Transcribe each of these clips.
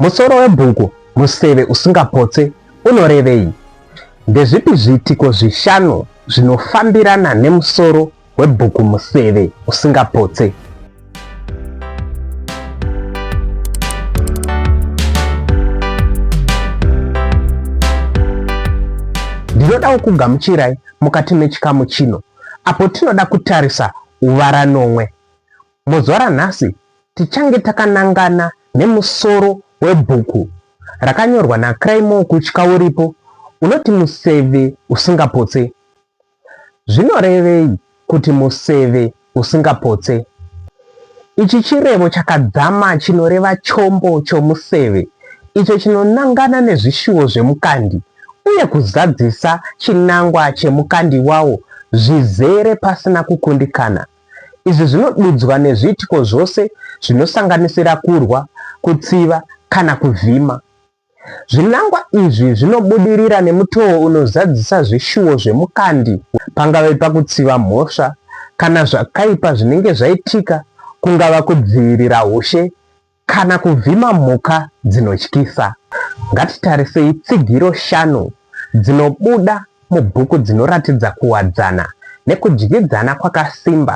Musoro webhuku Museve Usingapotse Unorevei? Ndezvipi zviitiko zvishanu zvinofambirana nemusoro webhuku Museve Usingapotse? Ndinodawo kugamuchirai mukati mechikamu chino apo tinoda kutarisa uvarano Muzuva ranhasi tichange takanangana nemusoro webhuku rakanyorwa naCraymore Kutya uripo unoti Museve Usingapotse. Zvinorevei kuti museve usingapotse? Ichi chirevo chakadzama chinoreva chombo chomuseve icho chinonangana nezvishuwo zvemukandi uye kuzadzisa chinangwa chemukandi wawo zvizere pasina kukundikana. Izvi zvinodudzwa nezviitiko zvose zvinosanganisira kurwa, kutsiva kana kuvhima. Zvinangwa izvi zvinobudirira nemutoo unozadzisa zvishuwo zvemukandi, pangave pakutsiva mhosva kana zvakaipa zvinenge zvaitika, kungava kudzivirira ushe Kana kuvhima mhuka dzinotyisa, ngatitarisei tsigiro shanu dzinobuda mubhuku dzinoratidza kuwadzana nekudyidzana kwakasimba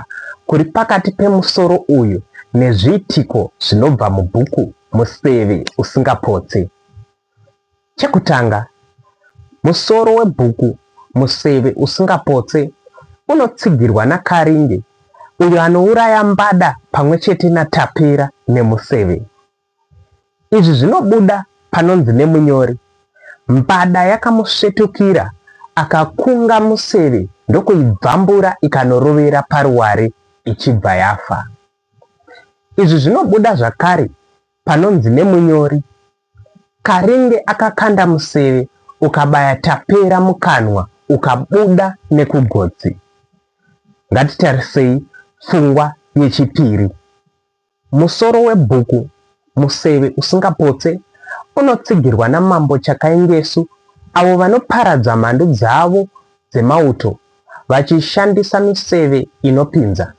kuri pakati pemusoro uyu nezviitiko zvinobva mubhuku Musevi Usingapotsi. Chekutanga, musoro webhuku Museve Usingapotse unotsigirwa naKaringe uyo anouraya Mbada pamwe chete naTapera nemuseve. Izvi zvinobuda panonzi nemunyori, Mbada yakamusvetukira akakunga museve ndokuibvambura ikanorovera paruware ichibva yafa. Izvi zvinobuda zvakare panonzi nemunyori, Karinge akakanda museve ukabaya Tapera mukanwa ukabuda nekugotsi. Ngatitarisei pfungwa yechipiri. Musoro webhuku Museve Usingapotse unotsigirwa naMambo Chakaingesu avo vanoparadza mhandu dzavo dzemauto vachishandisa miseve inopinza.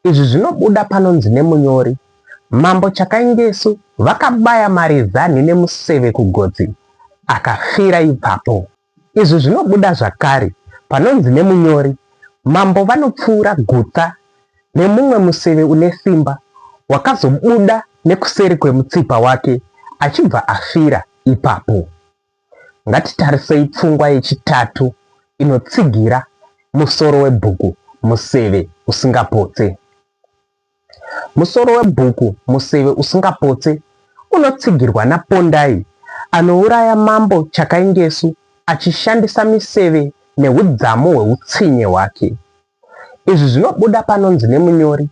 Izvi zvinobuda panonzi nemunyori, Mambo Chakaingesu vakabaya Marizanhi nemuseve kugotsi, akafira ipapo. Izvi zvinobuda zvakare panonzi nemunyori, Mambo vanopfuura gutsa nemumwe museve une simba wakazobuda nekuseri kwemutsipa wake achibva afira ipapo. Ngatitarisei pfungwa yechitatu inotsigira musoro webhuku Museve Usingapotse. Musoro webhuku Museve Usingapotse unotsigirwa naPondai anouraya Mambo Chakaingesu achishandisa miseve nehudzamu hweutsinye hwake. Izvi zvinobuda panonzi nemunyori,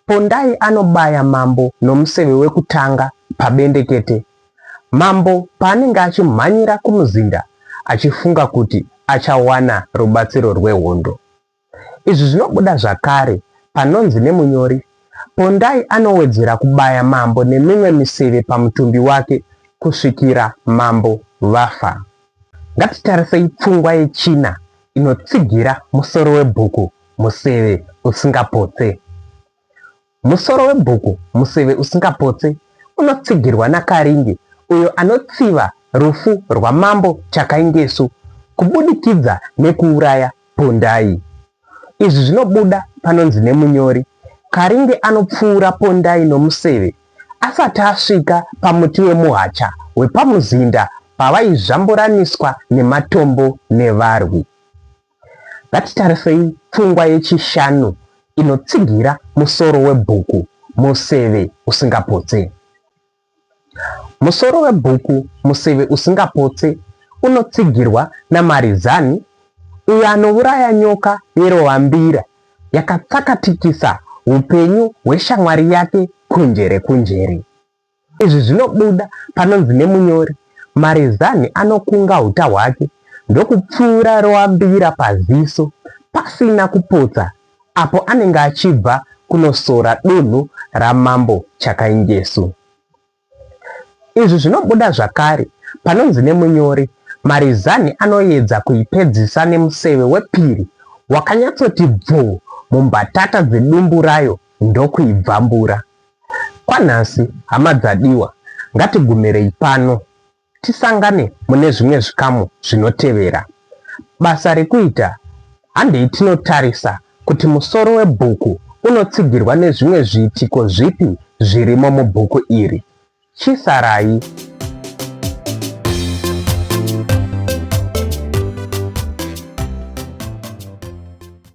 Pondai anobaya mambo nomuseve wekutanga pabendekete. Mambo paanenge achimhanyira kumuzinda achifunga kuti achawana rubatsiro rwehondo. Izvi zvinobuda zvakare panonzi nemunyori, Pondai anowedzera kubaya mambo nemimwe miseve pamutumbi wake kusvikira mambo vafa. Ngatitarisei pfungwa yechina inotsigira musoro webhuku Museve Usingapotse. Musoro webhuku Museve Usingapotse unotsigirwa naKaringe uyo anotsiva rufu rwaMambo Chakaingesu kubudikidza nekuuraya Pondai. Izvi zvinobuda panonzi nemunyori, Karinge anopfuura Pondai nomuseve asati asvika pamuti wemuhacha wepamuzinda pavaizvamburaniswa nematombo nevarwi. Ngatitarisei pfungwa yechishanu inotsigira musoro webhuku, Museve Usingapotse. Musoro webhuku Museve Usingapotse unotsigirwa naMarizani uyo anouraya nyoka yerovambira yakatsakatikisa upenyu hweshamwari yake kunjere kunjere. Izvi zvinobuda panonzi nemunyori, Marizani anokunga uta hwake ndokupfura rovambira paziso pasina kupotsa apo anenge achibva kunosora dunhu raMambo Chakainjesu. Izvi zvinobuda zvakare panonzi nemunyori, Marizani anoedza kuipedzisa nemuseve wepiri wakanyatsoti bvuu mumbatata dzedumbu rayo ndokuibvambura. Kwanhasi, hama dzadiwa, ngatigumirei pano. Tisangane mune zvimwe zvikamu zvinotevera. Basa rekuita, Handei tinotarisa kuti musoro webhuku unotsigirwa nezvimwe zviitiko zvipi zvirimo mubhuku iri. Chisarai.